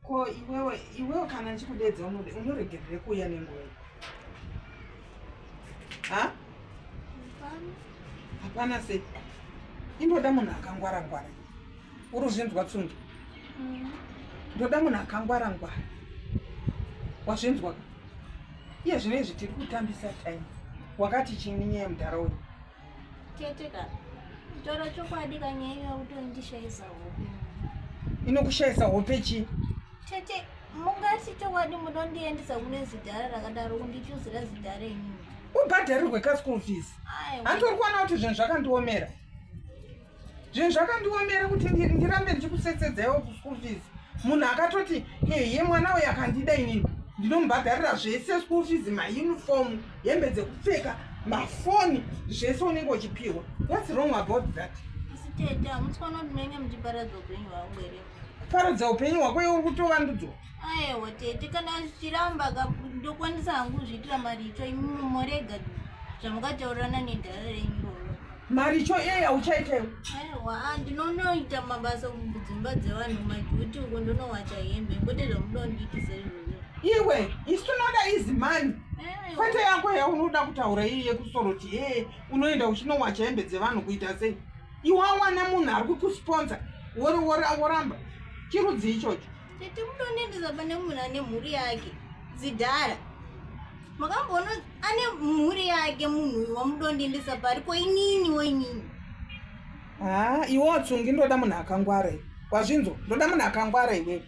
ko iwewe iwewe kana ndichikudedza unoregerere kuuya nenguva ha hapana se indoda munhu akangwara ngwara uri uzvinzwa tsungi mm. ndoda munhu akangwara ngwara wazvinzwa iye zvino izvi tiri kutambisa time wakati chini nyaya mudhara uyu Tete ka. Toro chokwadi kanyaya iwe utondishaisa hope. Inokushaisa hope chi? Tete mungati chokwadi munondiendesa kune zidhara rakadaro kundichuzira zidhara inini. Ubhadharirwe ka school fees. Handitori kuona kuti zvinhu zvakandiomera. zvinhu zvakandiomera kuti ndirambe ndichikusetsedzaiwo kuschool fees munhu akatoti ye mwana uyo akandida inini ndinomubhadharira zvese school fees mauniform hembe dzekupfeka mafoni zvese unenge uchipiwa whats wrong about that paradza upenyu hwako iwe uri kutovandudzwa aewa tete kana zvichiramba ndokwanisa hangu zviitira maricho imimi morega zvamukataurirana nedhara renyu roro maricho iyeye auchaita iwe aewa ah, ndinonoita mabasa kudzimba dzevanhu majuti uko ndonowacha hembe kwete zvamunondiitisa izvozvo iwe isu tinoda izi mani kwete yako yaunoda kutaura iyi yekusoroti ee eh, unoenda uchinowacha hembe dzevanhu kuita sei iwawana munhu ari kukusponsa woramba chirudzi ichocho tete mutonendesa pane munhu ane mhuri yake dzidhara makamboona ane mhuri yake munhu uyu wamudondendesa pari ko inini woinini haa ah, iwe watsungi ndoda munhu akangwara iwe wazvinzo ndoda munhu akangwara iwewe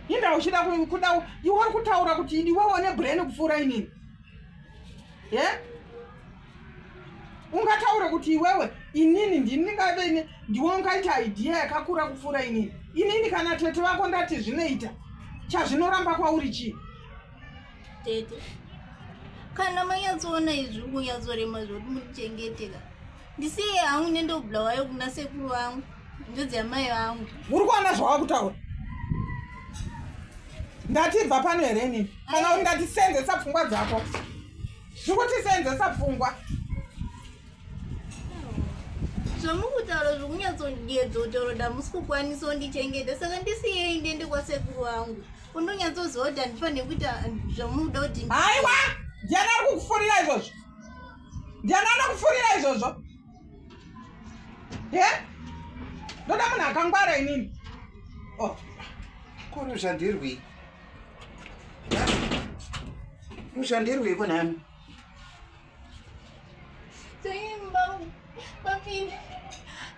inda uchida kuda iwe uri kutaura kuti iwewe une brain kupfuura inini ye yeah? ungataure kuti iwewe inini ndini ndingave ini ndiwe ungaita idea yakakura kupfuura inini inini kana tete vako ndati zvinoita chazvinoramba kwauri chii tete kana manyatsoona izvi kunyatsorema zvoti muchengeteka ndisiye hangu nendobla wayo kuna sekuru vangu ndodzi yamai vangu uri kuona zvawava kutaura ndatibva pano here inini kana uri ndatisenzesa pfungwa dzako zvikutisenzesa pfungwa zvamukutaura zvikunyatsondiedza kuti roda musi kukwanisa undichengeta saka ndisiyei ndiende kwasekuru vangu undonyatsoziva kuti handifanire kuita zvamuda kuti haiwa ndiani ari kukufurira izvozvo ndiani anokufurira izvozvo e ndoda munhu akangwara inini oh. kuri zvandirwii mushandirweiko nami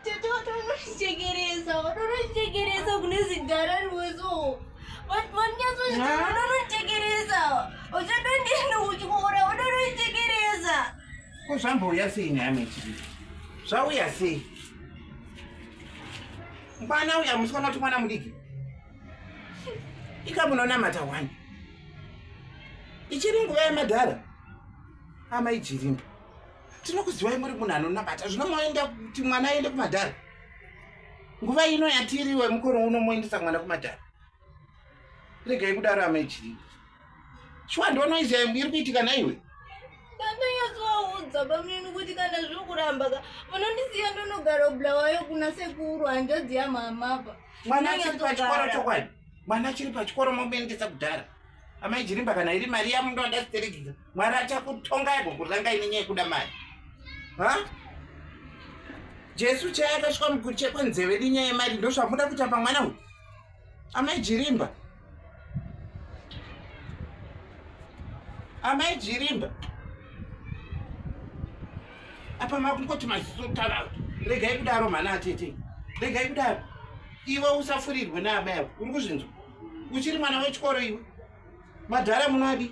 tetotonochekeresa watonochekeresa kune zidhara rweso wanyatsochitononochekeresa uchatondienda kuchikora watonochekeresa ko zvambouya sei nami chii zvauya sei mwana uya musikana kuti mwana mudiki ikamunonamata wani ichiri nguva yemadhara amai jirimba tinokuziwai muri munhu anonamata zvino moenda kuti mwana aende kumadhara nguva ino yatiriwe mukoro uno moendesa mwana kumadhara regai kudaro amai jirimba shuwa ndiwo noise yayo iri kuitika naiwe ndandanyatsovaudza pamnini kuti kana zviri kuramba ka vanondisiya ndonogara bulawayo kuna sekuru hanjadzi yamamapa mwana achiri pachikoro chokwadi mwana achiri pachikoro momuendesa kudhara amai jirimba kana iri mari yamundo andasiteregidza mwari achakutonga yago kuranga ine nyaya yekuda mari ha jesu chaya akasvika mukuru chekwanzeve nenyaya yemari ndozvamuda kuita pamwana uyu amai jirimba amai jirimba apa makungoti maziso tava regai kudaro mhana atete regai kudaro iwe usafurirwe naamai avo uri kuzvinzwa uchiri mwana wechikoro iwe madhara munadi